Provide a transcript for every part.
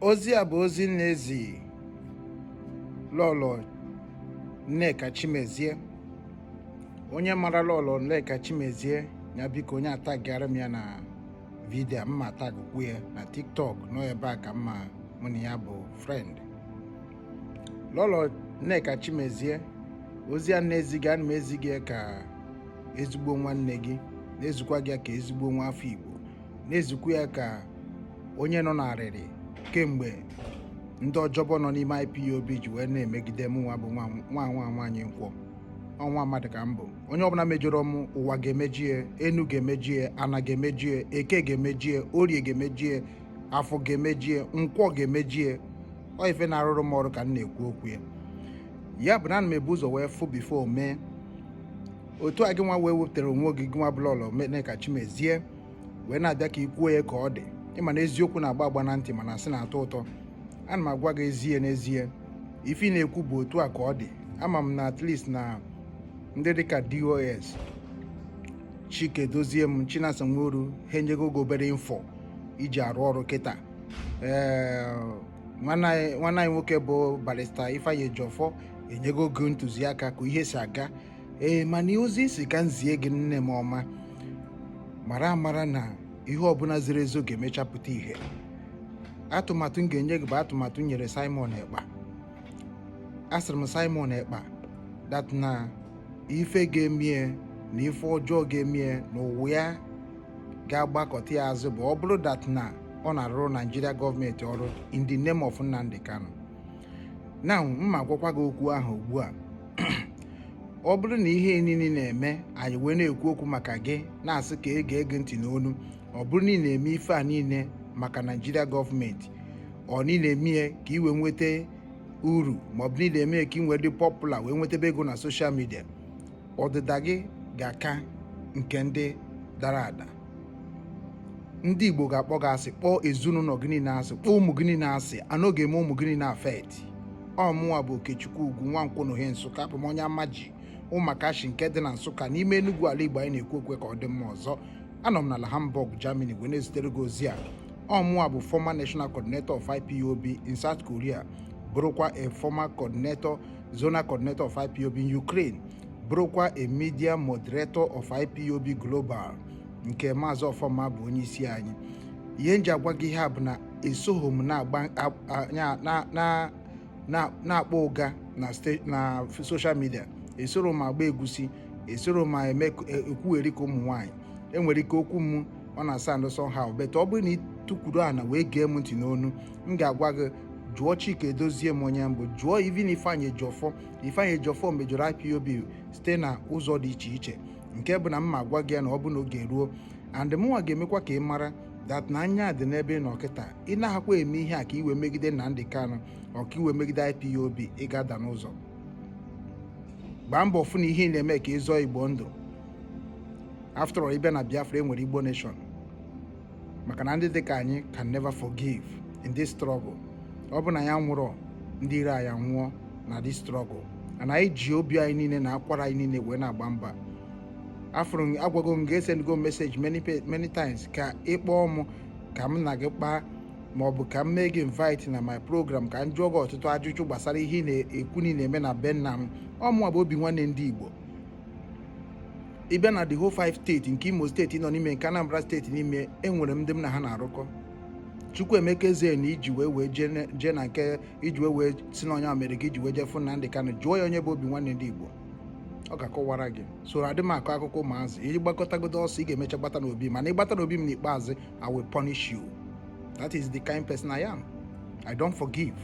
ozi a bụ ozi m na-ezi lọlọ Nneka Chimezie onye mara lọlọ Nneka Chimezie ya biko onye atagara m ya na vidio a ma atagụkwu ya na tiktok n'ọ ebe a ka m ma mụ na ya bụ friend lọlọ Nneka Chimezie ozi a m na-ezi gị ana m ezi gị ya ka ezigbo nwanne gị na-ezikwa gị ya ka ezigbo nwa afọ Igbo na-ezikwa ya ka onye nọ n'arịrị kemgbe ndị ọjọbọ nọ n'ime IPOB ji wee na-emegide m nwa bụ nwa nwa nwaanyị nkwọ ọ nwa mmadụ ka m bụ onye ọbụla mejọrọ m ụwa ga-emejie enu ga-emejie ana ga-emejie eke ga-emejie orie ga-emejie afọ ga-emejie nkwọ ga-emejie ọ ife na-arụrụ m ọrụ ka m na-ekwu okwu ya ya bụ na ana m ebu ụzọ wee fụ before mee otu a gị nwa wee wepụtara onwe gị gị nwa bụ lọlọ Nneka Chimezie wee na-abịa ka i kwuo ya ka ọ dị ị ma na eziokwu na-agba agba na ntị mana asị na-atọ ụtọ ana m agwa gị ezie n'ezie ife ị na-ekwu bụ otu a ka ọ dị ama m na at least na ndị dịka DOS chika edoziem chinasa nworu ha enyego gị obere info i ji arụ ọrụ kịta ee nwanne anyị nwoke bụ barrister ifeanyi ejiofor enyego gị ntụziaka ka ihe si aga ee mana ozi isi ka m zie gị nne m ọma mara amara na ihe ọbụla zoro ezo ga-emecha pụta ihe atụmatụ m ga-enye gị bụ atụmatụ m nyere Simon Ekpa asịrị m Simon Ekpa that na ife ga-emie na ife ọjọọ ga-emie na ụwa ya ga-agbakọta ya azụ bụ ọ bụrụ that na ọ na-arụrụ Naijiria gọọmenti ọrụ in the name of Nnamdi Kanu ana m agwakwa gị okwu ahụ ugbu a ọ bụrụ na ihe niile ị na-eme anyị wee na-ekwu okwu maka gị na-asị ka e gee gị ntị n'onu ọ bụrụ na ị na-eme ife a niile maka naijiria gọọmenti ọ na ị na-eme ya ka ị wee nweta uru ma ọ bụ na ị na-eme ya ka ị wee dị popular wee nwetebe ego na social media ọdịda gị ga-aka nke ndị dara ada ndị igbo ga-akpọ gị asị kpọọ ezinụlọ gị niile asị kpọọ ụmụ gị niile asị and ọ ga-eme ụmụ gị niile affect ọ mụnwa bụ okechukwu ugwu nwa nkwọ na ohe nsụka abụ m onye amaji ụmụakashi nke dị na nsụka n'ime enugwu ala igbo anyị na-ekwu okwu ya ka ọ dị mma ọzọ anọ m n'ala hamburg germany wee na-ezitere gị ozi a ọ mụnwa bụ former national coordinator of ipob in south korea bụrụkwa a former coordinator zonal coordinator of ipob in ukraine bụrụkwa a media moderator of IPOB Global nke Maazị Ọfọma bụ onye isi anyị ihe m ji agwa gị ihe a bụ na esoghị m na-akpọ ụga na social media esoro m agba egusi esoro m eme e, ekwugheri ka ụmụ nwaanyị enwere ike okwu m ọ na-asound somehow but ọ bụrụ na i tukwuru ana wee gee m ntị n'ọnụ m ga-agwa gị jụọ Chika Edoziem onye m bụ jụọ Ifeanyi Ejiofor Ifeanyi Ejiofor mejọrọ IPOB site na ụzọ dị iche iche nke bụ na m ma-agwa gị ya na ọ bụ na oge ruo and mụnwa ga-emekwa ka ị mara that na anya dị n'ebe ị nọ kịta ị na-ahakwa eme ihe a ka i wee megide Nnamdi Kanu ọ ka i wee megide IPOB ị ga-ada n'ụzọ gbaa mbọ fụ na ihe ị na-eme ka ị zọọ Igbo ndụ after all ịbịa na Biafra enwere Igbo nation maka na ndị dịka anyị can never forgive in this struggle ọ bụ na anyị nwụrụ ndị iro anyị nwụọ na this struggle and anyị ji obi anyị niile na akwara anyị niile wee na-agba mgba afụrụ agwago m gị esendgo message many many times ka ị kpọọ m ka m na gị kpaa ma ọ bụ ka m mee gị invite na my program ka m jụọ gị ọtụtụ ajụjụ gbasara ihe ị na-ekwu na ị na-eme na be nna m ọ mụnwa bụ Obinwanne ndị Igbo ịbịa na the whole five steeti nke Imo steeti nọ n'ime nke Anambra steeti n'ime enwere m ndị m na ha na-arụkọ Chukwuemeka Eze na iji wee wee jee na nke iji wee wee si na onye a mere ka i ji wee jee fụ Nnamdi Kanu jụọ ya onye bụ Obinwanne ndị Igbo ọ ga-akọwara gị soro adị m akọ akụkọ ụmụazị ị gbakọtagodo ọsọ ị ga-emecha gbata n'obi mana ị gbata n'obi m n'ikpeazụ I will punish you that is the kind person I am I don't forgive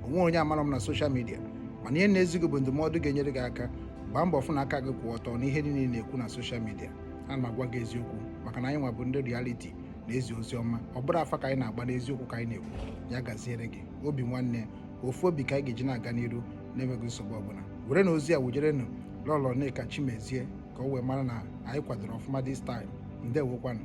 o nwero onye amaro m na social media mana ihe m na-ezi gị bụ ndụmọdụ ga-enyere gị aka gbaa mbọ fụ na aka gị kwụ ọtọ n'ihe niile ị na-ekwu na social media ana m agwa gị eziokwu maka na anyị nwa bụ ndị reality na ezi ozi ọma ọ bụrọ afa ka anyị na-agba n'eziokwu ka anyị na-ekwu ya gaziere gị Obinwanne ofu obi ka anyị ga-eji na-aga n'iru na-enweghị nsogbu ọbụla werenụ ozi a wujerenụ Lọlọ Nneka Chimezie ka o wee mara na anyị kwadoro ọfụma this time ndewokwanụ